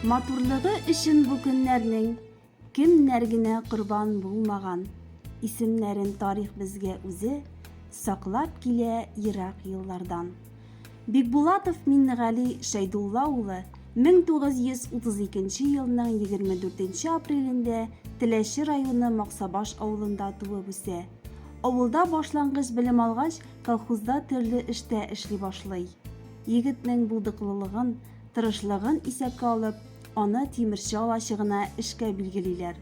Матурлыгы өчен бу көннәрнең кемнәр генә корбан булмаган. Исемнәрен тарих безгә үзе саклап килә ерак еллардан. Бикбулатов Миннегали Шәйдулла улы 1932 елның 24 апрелендә Теләче районы Максабаш авылында туып үсә. Авылда башлангыч белем алгач, колхозда төрле эштә эшли башлый. Егетнең булдыклылыгын, тырышлыгын исәпкә алып, аны тимерче алачыгына эшкә билгелиләр.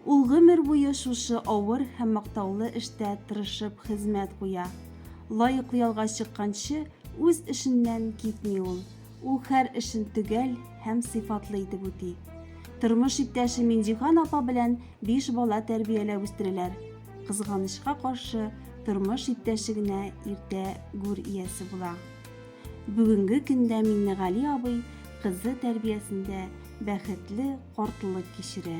Ул гомер буе шушы авыр һәм мактаулы эштә тырышып хезмәт куя. Лаеклы ялга чыкканчы үз эшеннән китми ул. Ул хәр эшен төгәл һәм сыйфатлы итеп үти. Тормыш иптәше Минҗихан апа белән биш бала тәрбияләп үстерәләр. Кызганычка каршы, тормыш иптәше генә иртә гүр иясе була. Бүгенге көндә Миннегали абый кызы тәрбиясендә бәхетле картлык кичерә.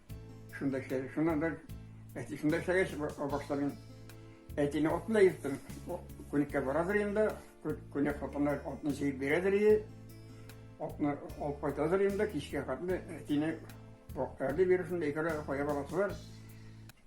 Шунда эшләдем. Шуннан бер әти шунда эшләгәч башта мин әтине атына йөрттем. Күнеккә барадыр инде, күнек хатыннар атны җыеп бирәдер иде. Атны алып кайтадыр инде, кичкә хатны әтине бакырды бирү шунда икәүләп кая барасылар.